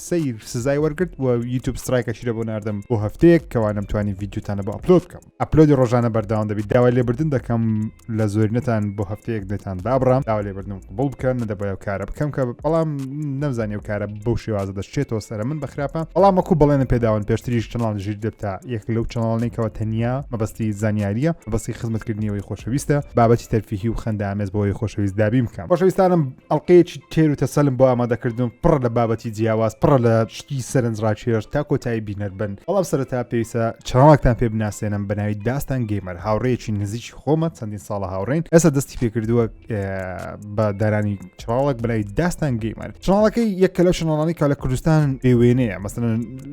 سەیر سزای وەرگرت و یوتوب سترایکەشی لە بۆ ناردم بۆ هەفتەیەک کەوا نەمتوانی ڤیددیوتانە بۆ ئەپلۆد بکەم ئەپلۆدی ڕۆژانە بەرداوام دەبیت داوای لێبردن دەکەم لە زۆرینەتان بۆ هەفتەیەک دێتان دابڕام داوا لێبردن قبول بکەن نەدەبایە و کارە بکەم کە بەڵام نەمزانانی و کارە بەو شێوازە دەشتێتەوە سەر من بەخراپە بەڵام وەکو بەڵێنە پێداون پێشتریش چناڵ ژیر دەبتا یەک لەو چناڵێکەوە تەنیا مەبەستی زانیاریە بەسی خزمەتکردنیەوەی خۆشەویستە بابەتی تەرفیهی و خەندە ئامێز بۆی خۆشەویست دابیم بکەم خۆشەویستانم ئەڵلقەیەکی تێر و تەسەلم بۆ ئامادەکردن پڕ لە بابەتی جیاواز پڕ لە شتی سەرنج ڕاکێش تا کۆتایی بینەر بن بەڵام سەرەتا پێویستە چاڵاکتان پێ بناسێنم بەناوی داستان گەیمەر هاوڕێکی نزیکی خۆمە چەندین ساڵە هاوڕێن ئێستا دەستی پێکردووە بە دارانی چاڵک بەناوی داستان گەیمەر چاڵەکەی یەکە لەو شناڵانی کا لە کوردستان بێوێنەیە مەسن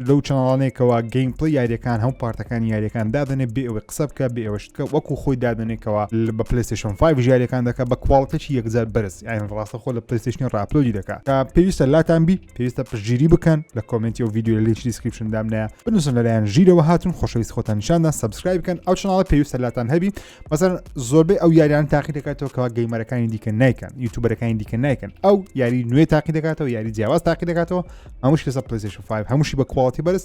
لەو چناڵانێکەوە گەیمپڵی یاریەکان هەم پارتەکان یاریەکان دادنێ بێ ئەوەی قسە بکە بێ ئەوەش کە وەکو خۆی دادەنێ کەوا بە پلەیستێشن 5 ژیاریەکان دەکە بە کواڵتێکی یەکجار بەرز یان ڕاستە خۆ لە پلەیستێشنی ڕاپلۆدی دەکا تا پێویستە لاتان بی پێویستە پشتگیری بکەن لە کۆمنتی و ڤیددیو لە لینکی دیسکریپشن دامنایە بنووسن لەلایەن ژیرەوە هاتون خۆشەویست خۆتان نیشاندا سبسکرایب بکەن ئەو چناڵە پێویستە لاتان هەبی مەسەر زۆربەی ئەو یاریان تاقی دەکاتەوە کەوا گەیمەرەکانی دیکە نایکەن یوتوبەرەکانی دیکە نایکەن ئەو یاری نوێ تاقی دەکاتەوە یاری جیاواز تاقی دەکاتەوە هەمووش لەسە پلسیش 5 هەمووشی بە کواڵتی بەرز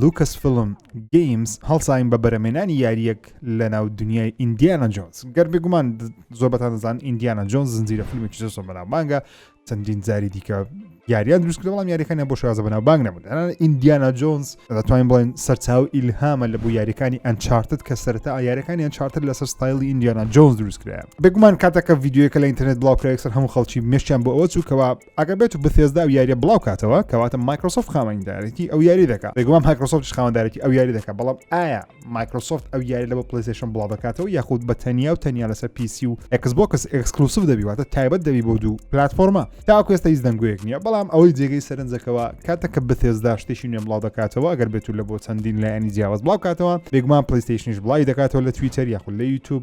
لوکەس فلم گەیمز هەڵساین بە بەرەمێنانی یاریەک لە ناو دنیای ئیندیانە جۆنز گەر بێگومان زۆر بەتان دەزان ئیندیانە جۆنز زنجیرە فیلمێکی زۆر بەناوبانگە چەندین جاری دیکە یاریان دروست کردەوەڵام یاریەکانی بۆ شازە بەناو بانگ نەبوون ئیندیانا جۆنز دەتوانین بڵێن سەرچاو ئیلهامە لە بۆ یاریەکانی ئەنچارتت کە سەرتا یاریەکانی ئەنچارتر لەسەر ستایلی ئیندیانا جۆنز دروستکرایە بگومان کاتەکە یددیوەکە لە ئینتررنێت بڵاوکراکسەر هەموو خەڵکی مشتیان بۆ ئەوە چووکەوە ئەگەر بێت و بثێزدا ئەو یاریە بڵاو کاتەوە کەواتە مایکرۆسۆفت خاوەندارێتی ئەو یاری دەکات بێگومان مایکرۆسۆفت خاوەندارێتی ئەو یاری دەکات بەڵام ئایا مایکرۆسۆفت ئەو یاری لە بۆ پلیسشن بڵاو دەکاتەوە یاخود بە تەنیا و تەنیا لەسەر پیسی و ئەکسبکس ئەکسکلوسف دەبیواتە تایبەت دەبی بۆ دوو پلتفۆرمە تاکو ئێستا هیچ دەنگوەیەک نییە بەڵام ئەوەی جێگەی سەرنجەکەەوە کاتە کە بثێزدا شتێکی نوێ بڵاو دەکاتەوە ئەگەر بێت و لە بۆ چەندین لایەنی جیاواز بڵاو کاتەوە بێگومان پلیستیشنش بڵاوی دەکاتەوە لە تویتەر یاخود لە یوتوب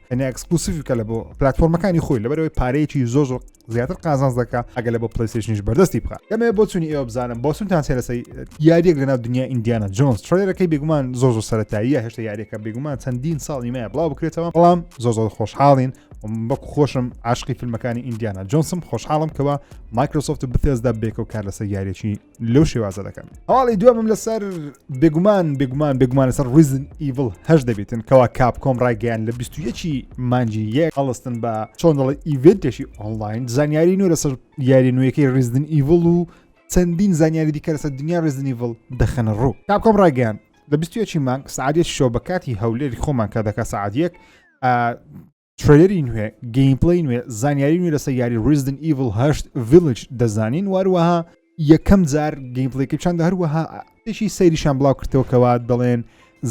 هەنێ ئەکسکلوسیف بکە لە بۆ پلتفۆرمەکانی خۆی لەبەرەوەی پارەیەکی زۆر زۆر زیاتر قازانز دەکە ئەگە لە بۆ پلیسیشنیش بەردەستی بخە دەمێ بۆ چونی ئێوە بزانم بۆ سونتان سێرەسەی یاریەک لەناو دنیا ئیندیانا جۆنس ترێرەکەی بێگومان زۆر زۆر سەرەتاییە هێشتا یاریەکە بێگومان چەندین ساڵی مایە بڵاو بکرێتەوە بەڵام زۆر زۆر خۆشحاڵین بەک خۆشم عاشقی فیلمەکانی ئیندیانا جۆنسم خۆشحاڵم کەەوە مایکرۆسۆفت بتێزدا بێکەوە کار لەسەر یاریی لەو شێوازە دەکەن ئاڵی دومم لەسەر بێگومان بێگومان بێگومان لەسەر ریزن ئیڤڵ هەش دەبێتن کەوا کاپ کۆم ڕایگەیان لە 21 مانجی یەک هەڵستن بە چۆن دەڵی ئیڤێتێکی ئۆنلاین زانیاری نوێ لەسەر یاری نوێیەکەی ریزدن ئیڤڵ و چەندین زانیاری دیکە لەسەر دنیا ریزنیڤڵ دەخەنە ڕوو کاپ کۆم ڕایگەیان لە 21 مانگ سعادێت شۆ بە کاتی هەولێری خۆمان کە دەکە سعادیەک ترەیلەری نوێ، گەیمپلەی نوێ، زانیاری نوێ لەسەر یاری Resident Evil 8 Village دەزانین واروەها یەکەم جار گەیمپلەیەکی چند هەروەها تێکی سەیریشان بڵاو کردەوە کەوا دەڵێن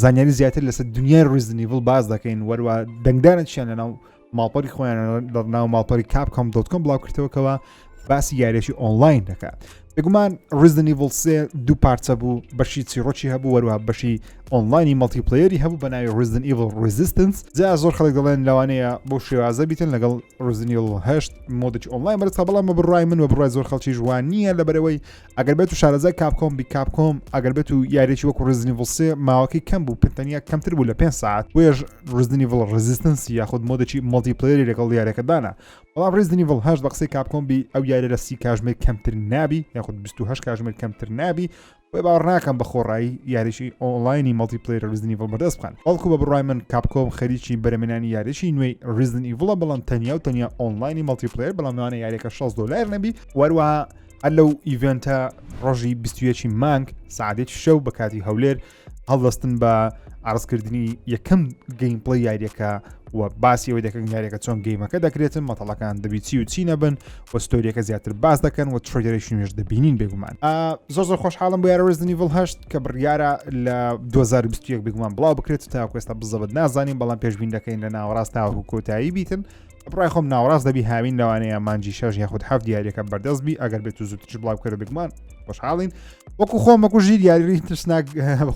زانیاری زیاتر لەسەر دنیای Resident Evil باز دەکەین وەروە دەنگدانە چیان لەناو ماڵپەری خۆیان لە ناو ماڵپەری کاپ کۆم دۆتکۆم بڵاو کردەوەکەوە باسی یاریێکی ئۆنلاین دەکە بگومان ڕزدنیڤڵ سێ دوو پارچە بوو بەشی چیڕۆکی هەبوو وەروە بەشی ئۆنلاینی مەڵتیپلەیەری هەبوو بە ناوی ڕزدن ئیڤڵ ڕزیستنس جا زۆر خەڵک دەڵێن لەوانەیە بۆ شێوازە بیتن لەگەڵ ڕزنیڵ هەشت مۆدەی ئۆنلاین بەرتا بەڵام بڕای من و بڕای زۆر خەڵکی جوان نییە لە بەرەوەی ئەگەر بێت و شارەزای کاپکۆم بی کاپکۆم ئەگەر بێت و یاریێکی وەکو ڕزنیڤڵ سێ ماوەکەی کەم بوو پتەنیا کەمتر بوو لە پێ ساعت وێژ ڕزنیڤڵ ڕزیستنسی یاخود مۆدەی مەڵتیپلەیەری لەگەڵ یارەکەدانە بەڵام ڕیزدنی ڤڵ هەشت بە قسەی کاپکۆم بی ئەو یارە لە سی کاژمێر کەمتر نابی یاخود 28 کاژمێر کەمتر نابی بۆی باڕناکەم بە خۆڕایی یاریشی ئۆنلاینی مەڵتی پلیر ریزنی ڤڵ بەدەست بخەن بەڵکو بە بڕای من کاپکۆم خەریکی بەرەمێنانی یاریشی نوێی ریزن ئیڤڵە بەڵام تەنیا و تەنیا ئۆنلاینی مەڵتی پلیر بەڵام نوانە یاریەکە 6 دلار نەبی وەروە هەر لەو ئیڤنتە ڕۆژی 21 مانگ سعادێکی شەو بە کاتی هەولێر هەڵدەستن بە عرضکردنی یەکەم گەیم پڵی یاریەکە و باسی ئەوەی دەکەن یاریەکە چۆن گەیمەکە دەکرێتن مەتەڵەکان دەبیچی و چی نەبن و ستۆریەکە زیاتر باس دەکەن و ترۆگەرەیشی نوێش دەبینین بێگومان زۆر زۆر خۆشحاڵم بۆ یارەوەزنی ڤڵ هەشت کە بڕیارە لە 2021 بگومان بڵاو بکرێت تاکوێستا بزەبت نازانین بەڵام پێشبین دەکەین لە ناوەڕاست تاوەکو کۆتایی بیتن بڕای خۆم ناوەڕاست دەبی هاوین لەوانەیە مانجی شەژ یاخود هەف دیارەکە بەردەست بی ئەگەر بێت و زووتش بڵاو کردە بگومان خۆشحاڵین وەکو خۆم وەکو ژیر یاری ترسناک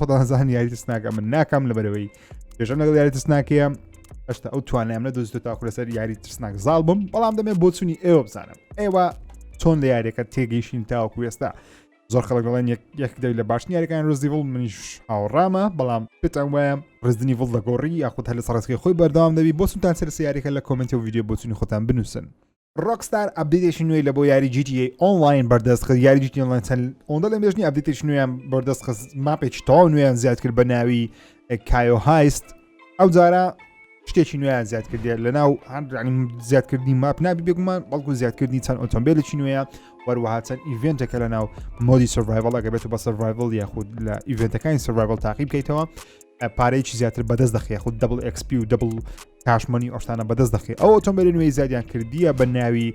خۆدانزان یاری ترسناکە من ناکەم لەبەرەوەی پێژەم لەگەڵ یاری ترسناکەیە هەشتا ئەو توانیان لە دۆزیۆ تاکو لەسەر یاری ترسناک زاڵ بم بەڵام دەمێ بۆچوونی ئێوە بزانم ئێوە چۆن لە یاریەکە تێگەیشین تاوەکو وێستا زۆر خەڵک دەڵێن یەک دەوی لە باشنی یاریەکان رزیڤڵ منیش هاوڕامە بەڵام پێتان وایە ڕزنی ڤڵ دەگۆڕی یاخود هەر لە سەرسکی خۆی بەردەوام دەبی بۆ سوتان سەر سیارەکە لە کۆمنتی و ویددیو بۆچنی خۆتان بنووسن ڕۆکستار ئەبدیتێکی نوێی لە بۆ یاری جیتی ئۆنلاین بەردەست خست یاری جیتی ئۆنلاین چەند ئەوەندە لە مێژنی ئەبدیتێکی نوێیان بەردەست خست ماپێکی تەواو نوێیان زیاد کرد بە ناوی کایۆ هایست ئەو جارە شتێکی نوێیان زیاد کردێت لە ناو هەندرانی زیادکردنی ماپ نابی بێگومان بەڵکو زیادکردنی چەند ئۆتۆمبیلێکی نوێە وەروەها چەند ئیڤێنتەکە لە ناو مۆدی سڤایڤڵەکە بێت بە سڤایڤڵ یاخود لە ئیڤێنتەکانی سڤایڤڵ تاقی بکەیتەوە پارەیەکی زیاتر بەدەست دەخی خود دەبل ئەکسپی و دەبل کاشمەنی ئۆشتانە بەدەست دەخی ئەو ئۆتۆمبیلی نوێی زیادیان کردیە بە ناوی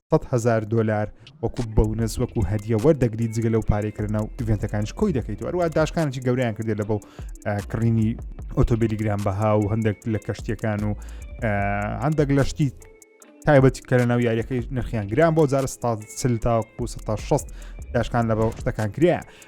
سەد هزار دلار وەکو بەونەس وەکو هەدیە وەردەگری جگە لەو پارەی کردنە و ئیڤێنتەکانش کۆی دەکەیت و ئەروە داشکانێکی گەوریان کردێت لە بەو کڕینی ئۆتۆبیلی گران بەها و هەندێک لە کەشتەکان و هەندێک لە شتی تایبەتی کە لە ناو یاریەکەی نرخیان گران بۆ جار ستا سل تاکو 16 داشکان لە بەو شتەکان کرێ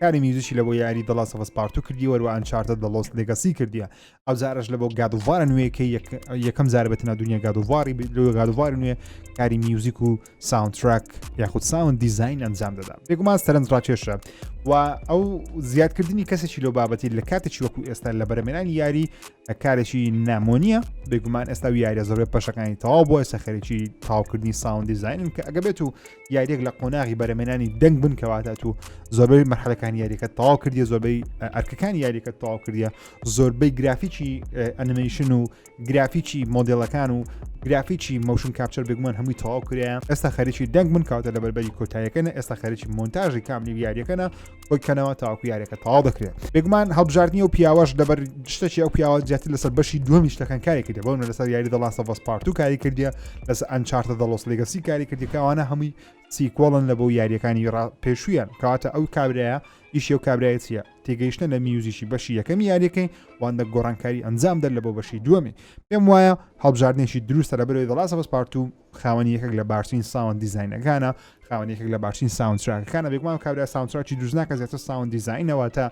کاری میوزیکی لەبۆ یاری دڵا سەفسپارتو کردی وەروە ئەنچارتە دەڵۆس لەگەسی کردیە ئەو جارش لە بۆ گادووارە نوێیەکە یەکەم جار بە تەنا دنیا گادوواری لۆ گادووار نوێ کاری میوزیک و ساونتراک یاخود ساون دیزین ئەنجام دەدا بێگومان سەرنج ڕاکێشە و ئەو زیادکردنی کەسێکی لۆ بابەتی لە کاتێکی وەکو ئێستا لە بەرەمێنانی یاری کارێکی نامۆنیە بێگومان ئێستا و یاریە زۆربێ پەشەکانی تەواو بۆ ئێستا خەرێکی تاوکردنی ساون دیزینن کە ئەگە بێت و یاریێک لە قۆناغی بەرەمێنانی دەنگ بن کەواتە تو زۆربەی مەحلەکان یاریەکە تەواو کردی زۆربەی ئەرکەکان یاریەکە تەواو کردە زۆربەی گرافیکی ئەنیمیشن و گرافیکی مۆدلەکان و گرافیکی مەوشن کاپچەر بگومان هەمووی تەواو کرێن ئێستا خەریکی دەنگ من کاوتە لە بەربەری کۆتایەکەن ئێستا خەرکی مۆنتاژی کاملی یاریەکەە بۆی کەنەوە تاواکو یاریەکە تەواو دەکرێت بێگومان هەڵبژاردننی و پیاوەش لەبەر شتەکی ئەو پیاوە زیاتر لەسەر بەشی دومی شتەکان کاری کردێ بۆ لەسەر یاری دەڵان سەڤس پارت و کاری کردە لەس ئەنچارتە دەڵۆس لەگەسی کاری کردی کەوانە هەمووی سیکۆڵن لە بۆ یاریەکانی ڕا پێشویان کەواتە ئەو کابراە ئیشی و کابراەتە تێگەیشتە لە میوزیکی بەشی یەکەمی یاریەکەی واندە گۆڕانکاری ئەنجام دەر لە بۆ بەشی دووەمی پێم وایە هەڵبژاردنێکی دروستە لە بەرەوەی دەڵا سەبس پارت و خاوەنی یەکێک لە باشترین ساوند دیزینەکانە خاوەن یەکێک لە باشترین ساونتراکەکانە بێگومان کابرا ساونتراکی دروستناکە زیاتر ساوند دیزینەوە تا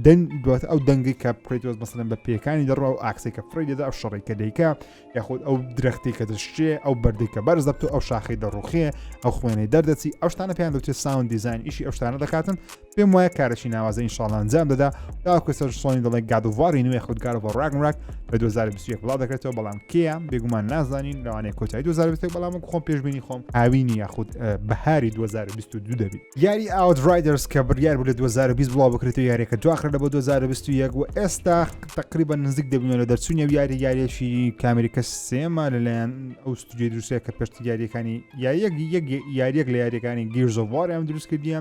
دەن دوات ئەو دەنگی کە پرێتۆز بەسەن بە پێکانی دەڕ و ئاکسی کە فری دەدا ئەو شەڕی کە دەیکە یاخود ئەو درەختی کە دەشتێ ئەو بەردی کە بەرز دەبت و ئەو شاخی دەڕوخێ ئەو خوێنەی دەردەچی ئەو شتانە پێیان دەوتێت ساوند دیزین ئیشی ئەو شتانە دەکاتن پێم وایە کارەشی ناوازە ئینشاڵ ئەنجام دەدا تاکو سەر سۆنی دەڵێ گادوواری نوێ خود گارۆڤ ڕاگنراک لە 2021 بڵاو دەکرێتەوە بەڵام کێە بێگومان نازانین لەوانەیە کۆتایی 2020 بەڵام خۆم پێشبینی خۆم هاوینی یاخود بەهاری 2022 دەبی یاری ئاوت ڕایدرس کە بڕیار بوو لە 2020 بڵاو بکرێتەوە یاریەکە دواخرە لە بۆ 2021 و ئێستا تقریبا نزیک دەبوون لە دەرچوونی و یاری یاریەکی کامریکە سێمە لەلایەن ئەو ستودیو دروستەیە کە پێشتی یاریەکانی یاریەک یاریەک لە یاریەکانی گیرزۆڤوار ئەم دروست کردیە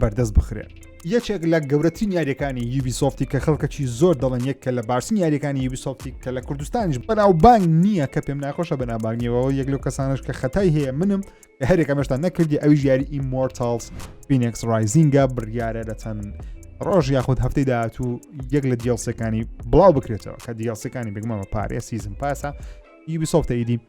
بەردەست بخرێن یەکێک لە گەورەترین یاریەکانی یوبی سۆفتی کە خەڵکەکی زۆر دەڵێن یەک کە لە باشترین یاریەکانی یوبی سۆفتی کە لە کوردستانیش بەناوبانگ نییە کە پێم ناخۆشە بەنابانگیەوە یەک لەو کەسانش کە خەتای هەیە منم کە هەرێکە مەشتان نەکردی ئەوی یاری ئیمۆرتالز فینکس رایزینگە بڕیارە لە چەند ڕۆژ یاخود هەفتەی داهاتوو یەک لە دیڵسەکانی بڵاو بکرێتەوە کە دیڵسەکانی بگمەوە پارێ سیزم پاسە یوبی سۆفتە ئیدی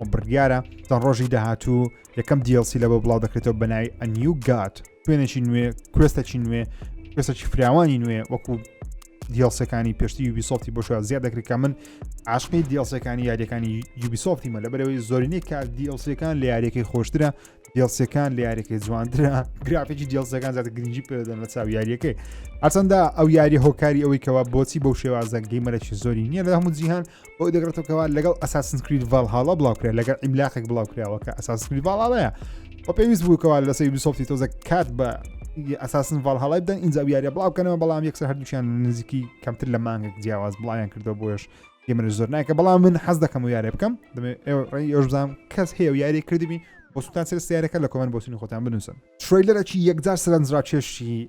و بڕیارە تا ڕۆژی داهاتوو یەکەم DLC لە بۆ بڵاو دەکرێتەوە بەنای ئەنیو گات شوێنێکی نوێ کوێستەکی نوێ کوێستەکی فراوانی نوێ وەکو دیڵسەکانی پێشتی یوبیسۆفتی بۆ شوێن زیاد دەکرێت کە من عاشقی دیڵسەکانی یاریەکانی یوبیسۆفتی مە لە بەرەوەی زۆرینەی کار دیڵسەکان لە یاریەکەی خۆشترە دیڵسەکان لە یاریەکەی جوانترە گرافێکی دیڵسەکان زیاتر گرنگی پێدەن لە چاو یاریەکەی ئەسەندا ئەو یاری هۆکاری ئەوەی کەەوە بۆچی بەو شێوازە گەیمەرەی زۆری نییە لە هەموو جیهان بۆی دەگرێتەوە کەوا لەگەڵ ئەساسن کرید ڤالهاڵا بڵاوکرێت لەگەڵ ئیملاقێک بڵاوکراوە کە ئەساس کرید ڤاڵاڵەیە بە پێویست بووکەوە لە سەی بیسۆفتی تۆزە کات بە ئەساسن ڤالهاڵای بدەن ئینجا یاریە بڵاوکەنەوە بەڵام یەکسەر هەردووچیان نزیکی کەمتر لە مانگێک جیاواز بڵاویان کردو بۆش گەمە زۆر ناکە بەڵام من حەز دەکەم و یارێ بکەم دەمێ ئێوە بزانام کەس هەیە و یاری کردبی بۆ سوتان سرستارەکە لە کۆمەند بۆسینی خۆتان بنووسن تریلەرەکی یەکجار سەرنجراکێشی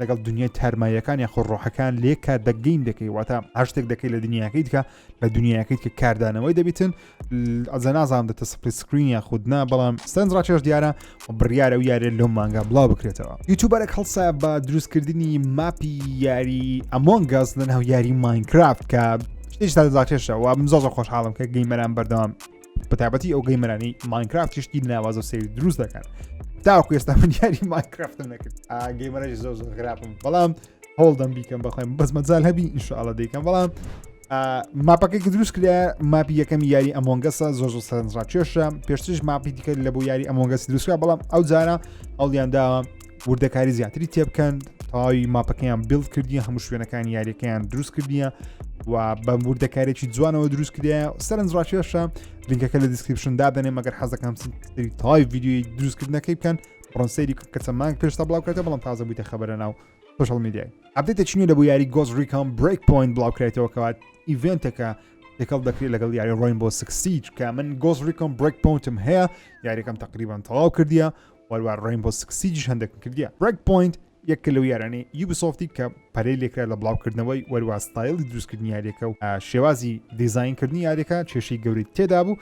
لەگەڵ دنیای تارماییەکان یاخۆ ڕۆحەکان لێ کار دەگەین دەکەی واتە هەشتێک دەکەی لە دنیاکەیت کە لە دنیاکەیت کە کاردانەوەی دەبیتن ئەزە نازان دەتە سپری سکرین یا خودنا بەڵام سندرا چێش دیارە و بڕیاە و یارێ لەو مانگا بڵاو بکرێتەوە یوتوبەرە هەڵسا بە دروستکردنی ماپی یاری ئەمۆن گاز لەناو یاری ماینکرافت کە هیچ تا دەزاکێشەوە بزۆزە خۆشحاڵم کە گەیمەران بەردەوام بەتابەتی ئەو گەیمەرانی ماینکرافت تشتی ناوازە و سری دروست دەکەن تاوەکو ئێستا من یاری ماینکرافتم نەکرد گەیمەرەش زۆر زۆر خراپم بەڵام هەوڵدەم بیکەم بەخۆم بەس مەجال هەبی ئینشاءڵە دەیکەم بەڵام ماپەکەی کە دروست کرا ماپی یەکەم یاری ئەمۆنگەسە زۆ زۆ سەرنجڕاکێشە پێشترش ماپی دیکە لە بۆ یاری ئەمۆنگەس دروستکە بەڵام ئەو جارە ئەڵیان داوە وردەکاری زیاتری تێبکەن تەواوی ماپەکەیان بیل کردی هەموو شوێنەکان یاریەکەیان دروست کردیە و بە وردەکارێکی جوانەوە دروست کردە سەرنج ڕاکێشە لینکەکە لە دیسکرپشن دادەنێ مەگەر حەزەکەم تای ویددیوی دروستکردنەکەی بکەن پرۆنسەری کەسە مانگ پێشتا بڵاوکاتە بەڵام تازە بوویتە خبرە ناو سوشل میدیای ئەبدێتە چنی لە بۆ یاری گۆز ریکام بریک پوین بڵاوکرێتەوە کەوات ئیڤێنتەکە تێکەڵ دەکرێت لەگەڵ یاری ڕۆین بۆ سکسیج کە من گۆز ریکۆم بریک پونتم هەیە یاریەکەم تقریبان تەواو کردیە هەروەها ڕێنبۆ سکس سیجیش هەندێکم کردیە برێک پۆینت یەکە لەو یارانەی یوبیسۆفتی کە پەرەی لێکرا لە بڵاوکردنەوەی وەروا ستایلی دروستکردنی یاریەکە و شێوازی دیزینکردنی یاریەکە کێشەی گەوری تێدا بوو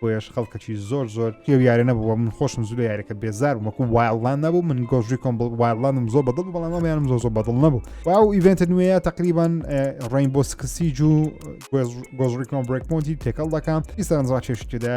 بۆیش خەڵکەکی زۆر زۆر پێ یارە نەبووە من خۆشم زوو لە یاریەکە بێزار وەکو وایڵان نەبوو من گۆژوی کۆم وایڵانم زۆر بەدڵ بەڵام ئەمیانم زۆر زۆر بەدڵ نەبوو واو ئیڤنت نوێە تقریبان ڕین بۆ سکسی جو گۆژڕیکۆم برێکمۆنتی تێکەڵ دەکەم ئیسەرنجڕا چێشتدا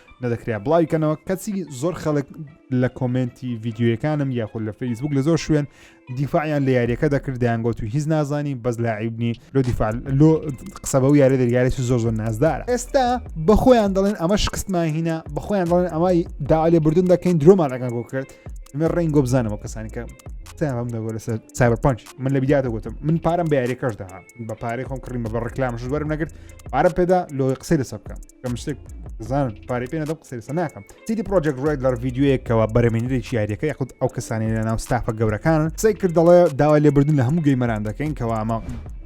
نەدەکرا بڵاوی کەنەوە کەچی زۆر خەڵک لە کۆمنتی ڤیددیوەکانم یاخود لە فەیسبوک لە زۆر شوێن دیفاعیان لە یاریەکە دەکردیان گوت و هیچ نازانی بەس لاعیبنی لۆ دیفاع لۆ قسە بە و یارە دەرگارێکی زۆر زۆر نازدارە ئێستا بەخۆیان دەڵێن ئەمە شکستمان هینا بەخۆیان دەڵێن ئەمای داالێ بردون دەکەین درۆمان ئەگەن بۆ کرد من ڕێنگۆ بزانەوە کەسانی کە تاام دەگۆ لەسەر ساەر پنج من لە بیدیاتە گوتم من پارم بە یاریەکەش دەها بە پارەی خۆم کڕیم بە ڕکلام شوەرم نەگرت پارە پێدا لۆی قسەی لەسە بکەم کەم شتێک زان پارەی پێ نەدەم قسەسە ناکەم سیدی پرۆژێک ڕێک لەر یددیوەیەکەوە بەرەمێنێکی یاریەکە یاخود ئەو کەسانی لە ناو ستافە گەورەکان قسەی کرد دەڵێ داوای لێبردن لە هەموو گەیمەران دەکەین کەوا ئەمە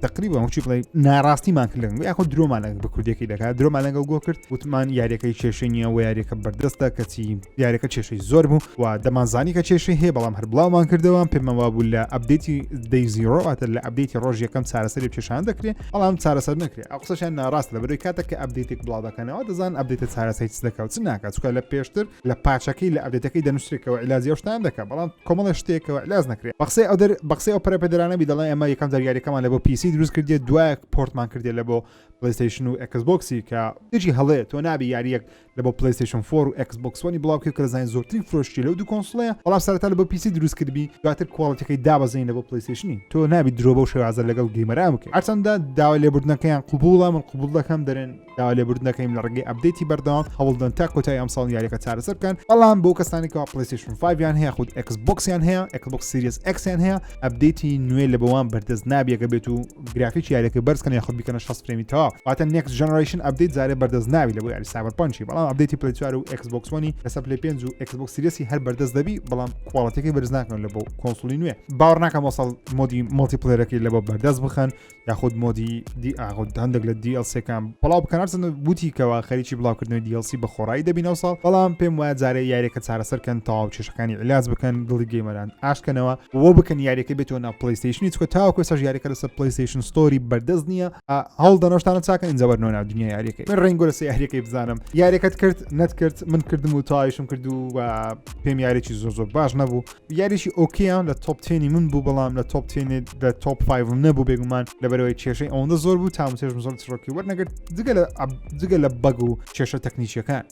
تقریبا هەچی بڵێ ناراستیمان کردن یاخود درۆمان لەگە بە کوردەکەی دەکات درۆمان لەگەڵ گۆ کرد وتمان یاریەکەی کێشەی نیە و یاریەکە بەردەستە کەچی یاریەکە کێشەی زۆر بوو و دەمانزانی کە کێشەی هەیە بەڵام هەر بڵاومان کردەوە پێمەوا بوو لە ئەبدەیتی دەیزیڕۆاتە لە ئەبدەیتی ڕۆژ یەکەم چارەسەری پێشان دەکرێت بەڵام چارەسەر نەکرێت ئەو قسەشیان ناڕاست لە بەرەوەی کاتە کە ئەبدیتێک بڵاو دەکەنەوە دەزان ئەبدیتە چارەسەی چ دەکات چ ناکات چکە لە پێشتر لە پاچەکەی لە ئەبدێتەکەی دەنووسێکەوە علاجی ئەو شتان دەکات بەڵام کۆمەڵە شتێکەوە علاج نەکرێت بەقسەی ئەو دەر بەقسەی ئەو پەرەپێدرانەبی دەڵێن ئەمە یەکەم زاریارەکەمان لە بۆ پیسی دروست کردێت دوایەک پۆرتمان کردێت لە بۆ پلیستیشن و ئەکس بۆکسی کە دژی هەڵێ تۆ نابی یاریەک لە بۆ پلەیستەیشن فۆر و ئێکس بۆکس وەنی بڵاوکرد کە دەزانین زۆرترین فرۆشی لەو دوو کۆنسڵەیە بەڵام سەرەتا لە بۆ پیسی دروست کردبی دواتر کواڵیتیەکەی دابەزین لە بۆ پلەیستەیشنی تۆ نابی درۆ بەو شێوازە لەگەڵ گەیمەران بکەیت هەرچەندە داوا لێبوردنەکەیان قوبوڵە من قوبول دەکەم دەرێن داوا لێبوردنەکەیم لە ڕێگەی ئەپدەیتی بەردەوام هەوڵدەن تا کۆتای ئەمساڵ یاریەکە چارەسەر بکەن بەڵام بۆ کەسانێکەوە پلەیستەیشن 5 یان هەیە خود ئێکس بۆکسیان هەیە ئێکس بۆکس سیریس ئەکسیان هەیە ئەپدەیتی نوێ لە بەوان بەردەست نابیەکە بێت و گرافیکی یاریەکە بەرز کەن یاخود بیکەنە 6 فرێمی تەوا واتە نێکس جنرشن ئەبدەیت زارێ بەردەست ناوی لە بۆ یاری ساوەر پنچی بەڵام ئەبدەیتی پلی چوار و ئەکسبکسۆنی لەسەر پلی پێنج و ئەکسبک سریسی هەر بەردەست دەبی بەڵام کوواڵەتەکەی بەرز ناکەن لە بۆ کۆنسڵی نوێ باوەڕ ناکەم وەسەڵ مۆدی مڵتی پلێرەکەی لە بۆ بەردەست بخەن یاخود مۆدی دی ئاغود هەندێک لە دیLCەکان بەڵاو بکەنەرسن وتی کەەوە خەریکی بڵاوکردنەوەی دیLC بە خۆڕایی دەبین ئەو ساڵ بەڵام پێم وایە جارێ یاریەکە چارەسەر کەن تەواو کێشەکانی علاج بکەن دڵی گەیمەران ئاشکەنەوە وە بکەن یاریەکە بێتەوە نا پلیستیشنی چکە تاکو سەر یاریەکە لەسەر پلیستیشن ستۆری بەردەست نییە هەڵ دەنۆشتانە چاکە ئینجاوەر نۆنا دنیا یاریەکە من ڕنگۆ لەسە یاریەکەی بزانم یاریەکەت کرد نەتکرد من کردم و تایشم کرد و پێم یاریی زۆر زۆر باش نەبوو یاریشی ئۆکیان لە تۆپتێنی من بوو بەڵام لە تۆپتێنێت لە تۆپ 5 نەبوو بێگومان لەبەرەوەی کێشەی ئەوەندە زۆر بوو تامسێژم زۆر چڕۆکی وەرنەگرت جگە لە جگە لە بەگ و کێشە تەکنیکیەکان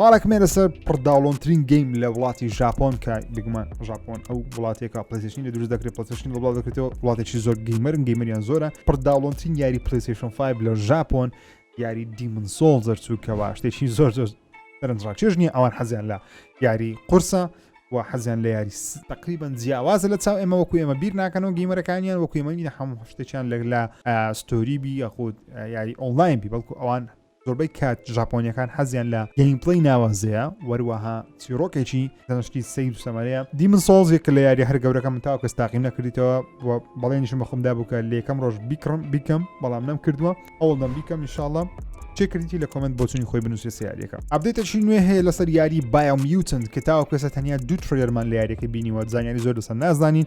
ئاڵکمێ لەسەر پڕداڵۆنترین گەیم لە وڵاتی ژاپۆن کە بگومان ژاپۆن ئەو وڵاتێکە پلسیشنی لە دروست دەکرێت پلسیشن وڵات دەکرێتەوە وڵاتێکی زۆر گەیمەرن گەیمەریان زۆرە پڕداڵۆنترین یاری پلیسیشن 5 لە ژاپۆن یاری دیمن سۆڵ دەرچووکەوە شتێکی زۆر زۆر دەرنجڕاکێش نییە ئەوان حەزیان لە یاری قورسە و حەزیان لە یاری تقریبان جیاوازە لە چاو ئێمە وەکو ئێمە بیر ناکەنەوە گەیمەرەکانیان وەکو ئێمەنی هەموو شتێکیان لە لە ستۆری بی یاخود یاری ئۆنلاین بی بەڵکو ئەوان زۆربەی کات ژاپۆنیەکان حەزیان لە گەیمپلەی ناوازەیە وەروەها چیرۆکێکی دەنشتی سیر سەمەرەیە دیمن سۆڵز یەکە لە یاری هەر گەورەکە من تاو کەس تاقیم نەکردیتەوە و بەڵێنیشم بە خۆمدا بوو کە لەکەم ڕۆژ بیکڕم بیکەم بەڵام نەم کردووە ئەوڵ دەم بیکەم انشاءڵە چێکردی لە کۆمنت بۆچنی خۆی بنووسێ سیارەکە ئەبدێتەشی نوێ هەیە لەسەر یاری بایمیوتن کە تاوە کەسە تەنیا دوو ترێرمان لە یاریەکە بینیوە زانانی زۆر لەسەر نازانین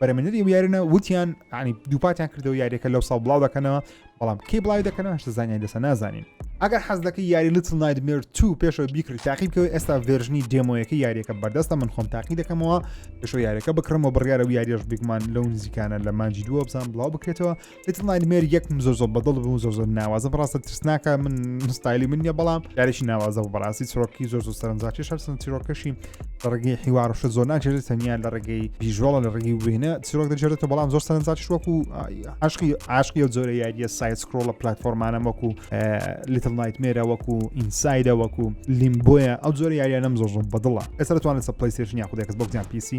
بەرەمێنەری ئەو یارنە وتیان عنی دووپاتیان کردەوە یاریەکە لەو ساڵ بڵاو دەکەنەوە بەڵام کەی بڵاوی دەکەنەوە هەشتە زانانی دەسە نازانین ئەگەر حەز دەکە یاری لتل نایدمێر تو پێشەوە بیکرد تاقی بکەوە ئێستا ڤێژنی دێمۆیەکە یاریەکە بەردەستە من خۆم تاقی دەکەمەوە پێشەوە یاریەکە بکڕمەوە بڕیارە و یاریش بگومان لەو نزیکانە لە مانجی دووە بزان بڵاو بکرێتەوە Little Nightmare یەکم زۆر زۆر بەدڵ بوو زۆر زۆر ناوازە بەڕاستە ترسناکە من ستایلی من نیە بەڵام یاریشی ناوازە بە بەڕاستی چرۆکی زۆر زۆر سەرنجاتی شەرسن چیرۆکەشی لە ڕێگەی حیوارشە زۆر ناجێت تەنیا لە ڕێگەی بیژۆڵە لە ڕێگەی وێنە چیرۆک دەجێتە بەڵام زۆر سەرنجاتی وەکو عشقی عشقی و زۆرە یاریە سایت سکرۆڵە پلتفۆرمانە وەکو لیتل نایتمێرە وەکو ئینسایدە وەکو لیمبۆیە ئەو زۆر یاریانم زۆر زۆر بەدڵە ئێستا توانێت سە پلیستێشن یاخودێکس بۆ جان پیسی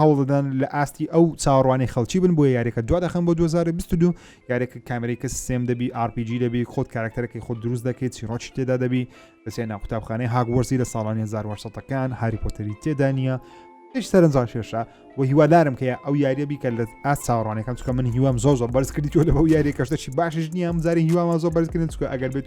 هەوڵدەدەن لە ئاستی ئەو چاوەڕوانەی خەڵکی بن بۆیە یاریەکە دوا دەخەن بۆ 2022 یاریەکە کامێرەی کە سێم دەبی RPG دەبی خۆت کارکتەرەکەی خۆ دروست دەکەیت چیڕۆکی تێدا دەبی دەچێت ناو قوتابخانەی هاگوەرزی لە ساڵانی 1970ەکان هاری پۆتەری تێدا نییە هیچ سەرنجڕان کێشە و هیوادارم کە ئەو یاریە بیکە لە ئاست چاوەڕانەکەم چکە من هیوام زۆ زۆر بەرزکردی تۆ لە بەو یاریە کەشتەشی باشش نییە ئەم زاری هیوامە زۆر بەرزکردن چکە ئەگەر بێت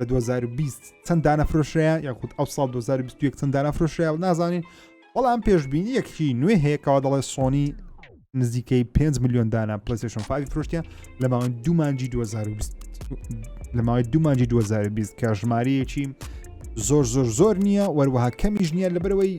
لە 2020 چەند دانە فرۆشرەیە یاخود ئەو ساڵ 2021 چەند دانە فرۆشرەیە نازانین بەڵام پێشببینی یەکشی نوێ هەیەکەوە دەڵێ سۆنی نزیکەی 5 میلیۆن دانە پلیسشن فاوی فرۆشتیان لە ماوەی دومانجی 2020 لە ماوەی دومانجی 2020 کە ژمارەیەکی زۆر زۆر زۆر نییە وەروەها کەمیش نییە لەبەرەوەی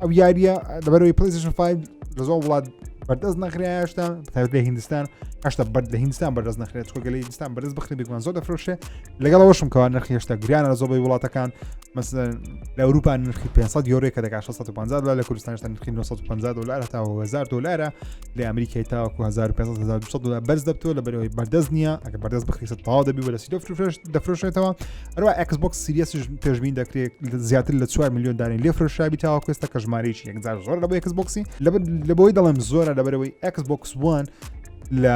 ئەو یاریە لەبەرەوەی پلیسشن 5 لە زۆ وڵات بەردەست نەخریاشتا تاوت لە هندستان هەشتا بەر لە هندستان بەردەست نەخرێت چۆگە لە هندستان بەرز بخری بگوان زۆر دەفرۆشێ لەگەڵ ئەوشم کەوا نرخی هێشتا گریانە زۆبەی وڵاتەکان مەسەن لە ئەوروپا نرخی 500 یۆرێک کە دەکات 650 لە کوردستانشتا نرخی 950 دلار هەتا 1000 دلارە لە ئەمریکای تاوەکو 1500 دلار بەرز دەبتەوە لە بەرەوەی بەردەست نییە ئەگە بەردەست بخریسە تاوا دەبی بەرەسی دەفرۆشێتەوە هەروە ئەکسبکس سیریسش پێشبین دەکرێت زیاتر لە 4 میلیۆن دارین لێ فرۆشابی تاوا کوێستە کە ژمارەیەکی یەکجار زۆر لە بۆ ئەکسبکسی لە بۆی دەڵێم زۆرە لەبەرەوەی ئەکسبکس وان لە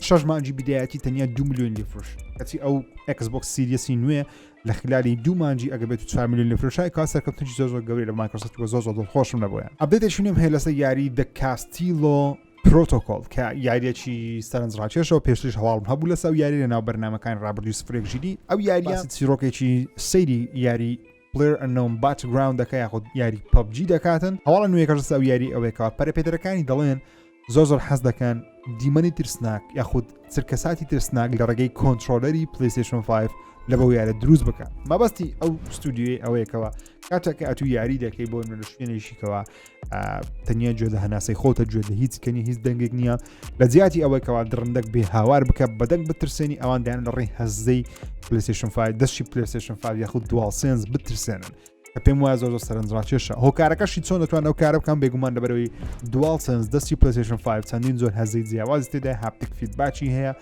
شش مانجی بدایەتی تەنیا دو میلیۆن لێ فرۆش کەچی ئەو ئەکسبکس سیریسی نوێ لە خلالی دوو مانجی ئەگە بێت چوار میلیۆن لە فرۆشای کا سەرکەوتنی زۆر زۆر گەوری لە مایکرۆسفت وە زۆر زۆر دڵخۆشم نەبووە ئەبێتێکی نوێم هەیە لەسەر یاری دە کاستیلۆ پرۆتۆکۆل کە یاریەکی سەرنج ڕاکێشەوە پێشتریش هەواڵم هەبوو لەسا و یاری لەناو بەرنمەکان ڕابردوی سفرێک ژیری ئەو یاریە چیرۆکێکی سەیری یاری پلێر ئەنۆم باچگراوند دەکە یاخود یاری پبجی دەکاتن هەواڵە نوێکەش سا و یاری ئەوێکەوە پەرپێدرەکانی دەڵێن زۆر زۆر حەز دەکەن دیمەنی ترسناک یاخود چرکەساتی ترسناک لە ڕێگەی کۆنتترۆلەری پلیسیشن 5 لە بەو یارە دروست بکە مەبەستی ئەو ستودیوی ئەوەیەکەوە کاتەکە ئەتو یاری دەکەی بۆ نوێنشتێنێکیکەوە تەنیا گوێ لە هەناسەی خۆتە گوێ لە هیچ کەنی هیچ دەنگێک نییە لە جیاتی ئەوەی کەوا درندەک بێ هاوار بکە بەدەنگ بترسێنی ئەوان دایان لە ڕێی هەزدەی پلیسشن فای دەشی پلیسشن فا یاخود دوالسێنس بترسێنن کە پێم وایە زۆر سەرنجڕاکێشە هۆکارەکەشی چۆن دەتوان ئەو کارە بکەم بێگومان لەبەرەوەی دوال سنس دەستی پلیسشن 5 چەندین زۆر هەزی جیاواز تێدا هاپتیک فیدباچی هەیە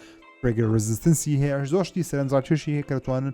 پرگەر ڕزستنسی هەیە زۆشتی سەرنجڕاکێشی هەیە کە دەتوانن